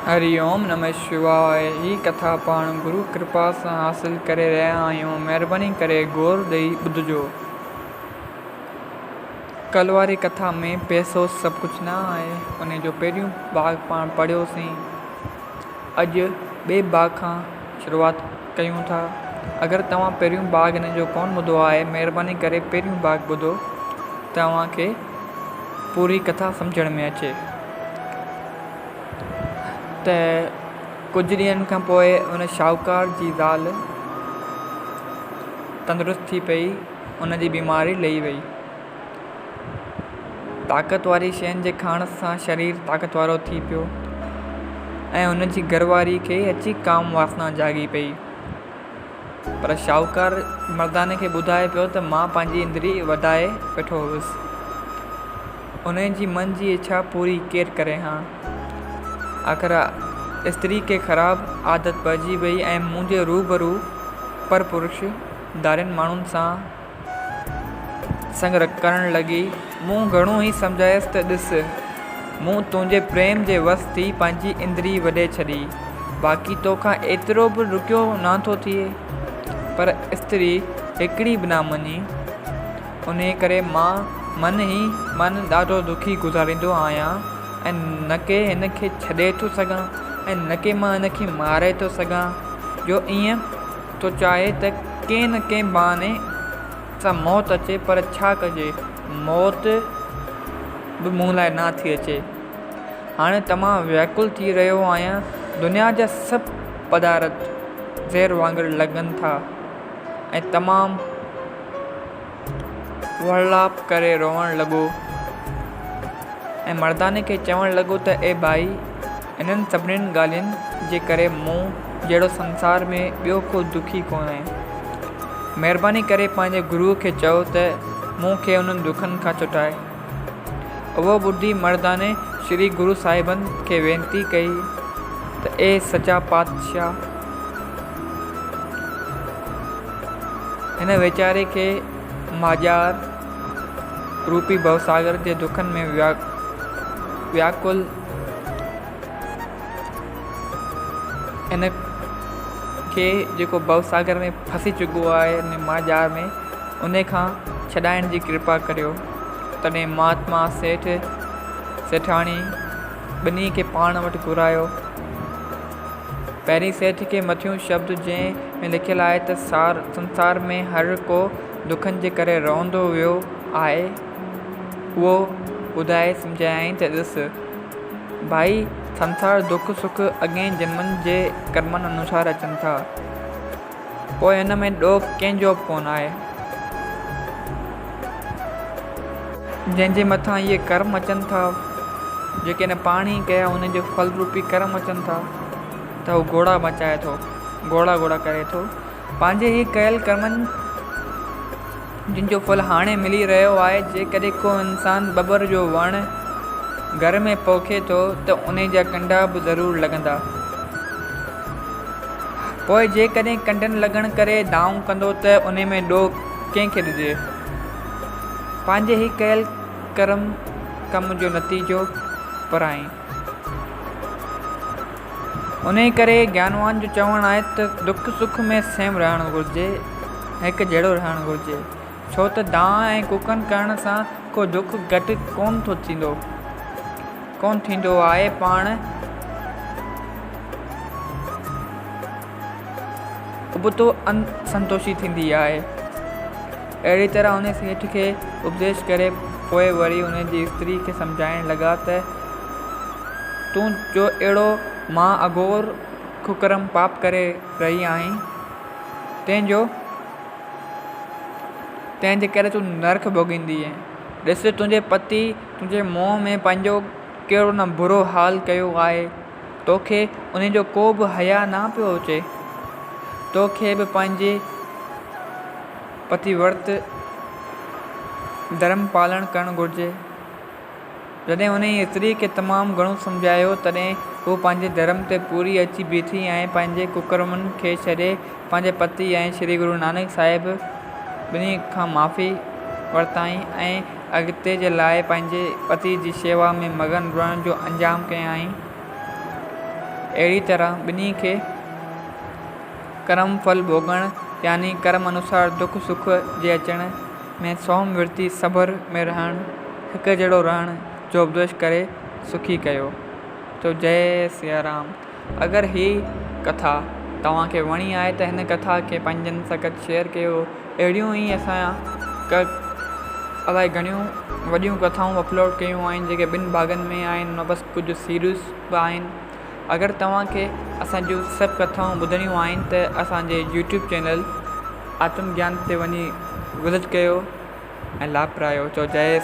هري اوم نمه شواء هي ڪٿا پاڻ گرو ڪرپا سان حاصل ڪري رهيا آهيون مهرباني ڪري غور ڏئي ٻڌجو ڪل واري ڪٿا ۾ پئسو سڀ ڪجهه نه آهي انهي جو پهريون ڀاڳ پاڻ پڙهيو سين اڄ ٻئي ڀاڳ کان شروعات ڪيون ٿا اگر توهان پهريون ڀاڳ هن جو ڪون ٻڌو آهي مهرباني ڪري پهريون ڀاڳ ٻڌو ته اوهان کي پوري ڪٿا سمجهڻ ۾ اچي ته ڪجهه ڏينهن کان پوء ان شاهوڪار جي زال تندرست ٿي پئي. ان جي بيماري لهي وئي. طاقت واري شين جي کائڻ سان شرير طاقت وارو ٿي پيو ۽ ان جي گهر واري کي اچي ڪام واسنا جاڳي پئي. پر شاهوڪار مرداني کي ٻڌائي پيو ته مان پنهنجي اندري وڌائي ويٺو هوس. انهيء جي من جي اڇا پوري ڪير ڪري ها؟ آخر استري کي خراب عادت پئجي ويئي ۽ منهنجي روبرو پرپروش ڌارين ماڻهن سان سڱ رکڻ لڳي. مون گهڻو ئي سمجهايس ته ڏس، مون تنهنجي پريم جي وس ٿي پنهنجي اندري وڍي ڇڏي، باقي تو کان ايترو به رکيو نه ٿو ٿئي. پر استري هڪڙي به نه مڃي. انهيء ڪري مان من ئي من ڏاڍو دکي گذاريندو آهيان ۽ نڪي هن کي ڇڏي ٿو سگهان ۽ نڪي مان هن کي ماري ٿو سگهان جو ائين ٿو چاهي ته ڪنهن نه ڪنهن بهاني سان موت اچي پر ڇا ڪجي موت به مون لاء نه ٿي اچي هاڻي ته مان ويڪل ٿي رهيو آهيان دنيا جا سڀ پدارٿ زهر وانگر لڳن ٿا ۽ تمام وڙلاپ ڪري روئڻ لڳو ۽ مرداني کي چوڻ لڳو ته اي ڀائي انهن سڀني ڳالهين جي ڪري مون جهڙو سنسار ۾ ٻيو ڪو دکي ڪونهي. مهرباني ڪري پنهنجي گروء کي چئو ته مون کي انهن دکن کان چٽائي. اهو ٻڌي مرداني شري گرو صاحبن کي وينتي ڪئي ته اي سچا پاتشاهه! هن ويچاري کي مهاڄار روپي ڀوساگر جي دکن ۾ وياڪل ان کي جيڪو ڀوساگر ۾ ڦسي چڪو آهي ان ماجار ۾ ان کان ڇڏائڻ جي ڪرپا ڪريو تڏهن مهاتما سيٺ سيٺاڻي ٻنهي کي پاڻ وٽ گهرايو پهرين سيٺ کي مٿيون شبد جنهن ۾ لکيل آهي ته سنسار ۾ هر ڪو دکن جي ڪري روئندو ويو آهي اهو ٻڌائي سمجهايائين ته ڏس ڀائي سنسار دک سک اڳين جنمن جي ڪرمن انوسار اچن ٿا پوء ان ۾ ڏوهه ڪنهن جو به ڪونه آهي. جنهن جي مٿان اهي ڪرم اچن ٿا جيڪي هن پاڻ ئي ڪيا ان جي ڦل روپي ڪرم اچن ٿا ته هو گهوڙا مچائي ٿو گهوڙا گهوڙا ڪري ٿو. پنهنجي هي ڪيل ڪرمن جن جو ڦل هاڻي ملي رهيو آهي جيڪڏهن ڪو انسان ٻٻر جو وڻ گهر ۾ پوکي ٿو ته ان جا ڪنڊا به ضرور لڳندا پوء جيڪڏهن ڪنڊن لڳڻ ڪري دانهون ڪندو ته ان ۾ ڏوهه ڪنهن کي ڏجي پنهنجي هي ڪيل ڪرم ڪم جو نتيجو پرائين انهيء ڪري گيانوان جو چوڻ آهي ته دک سک ۾ سيم رهڻ گهرجي ۽ هڪ جهڙو رهڻ گهرجي، ڇو ته دانهن ۽ ڪوڪن ڪرڻ سان ڪو دک گهٽ ڪونه ٿو ٿيندو، ڪونه ٿيندو آهي پاڻ. ابتو ان سنتوشي ٿيندي آهي. اهڙي طرح هن سيٺ کي اپديش ڪري پوء وري هن جي استري کي سمجهائڻ لڳا ته، تون جو اهڙو مها اگهور ڪڪرم پاپ ڪري رهي آهين، تنهن جو تنهن جي ڪري تون نرڪ ڀوڳيندينء. ڏس تنهنجي پتيء تنهنجي منهن ۾ پنهنجو ڪهڙو نه برو حال ڪيو آهي. توکي انهي جو ڪو به حياء نه پيو اچي؟ توکي به پنهنجي پتيورت ڌرم پالڻ ڪرڻ گهرجي. جڏهن انهي استري کي تمام گهڻو سمجهايو تڏهن هوء پنهنجي ڌرم تي پوري اچي بيٺي ۽ پنهنجي ڪڪرمن کي ڇڏي پنهنجي پتي ۽ شري گرو نانڪ صاحب ٻنهي کان معافي ورتائين ۽ اڳتي جي لاء پنهنجي پتيء جي شيوا ۾ مگن رهڻ جو انجام ڪيائين. اهڙيء طرح ٻنهي کي ڪرم ڦل ڀوڳڻ يعني ڪرم انوسار دک سک جي اچڻ ۾ سوم ورتي صبر ۾ رهڻ هڪجهڙو رهڻ جو اپديش ڪري سکي ڪيو. تو جئه سيارام. اگر هي ڪٿا توهان کي وڻي آهي ته هن ڪٿا کي پنهنجن سگت شيئر ڪيو اهڙيون ئي اسان ڪه الائي گهڻيون وڏيون ڪٿائون اپلوڊ ڪيون آهن جيڪي ٻن ڀاڳن ۾ آهن ان بس ڪجهه سيريز به آهن اگر توهان کي اسان جون سڀ ڪٿائون ٻڌڻيون آهن ته اسانجي يوٽيوب چينل آتم گيان تي وڃي وزٽ ڪيو ۽ لاڀ پرايو چوجايس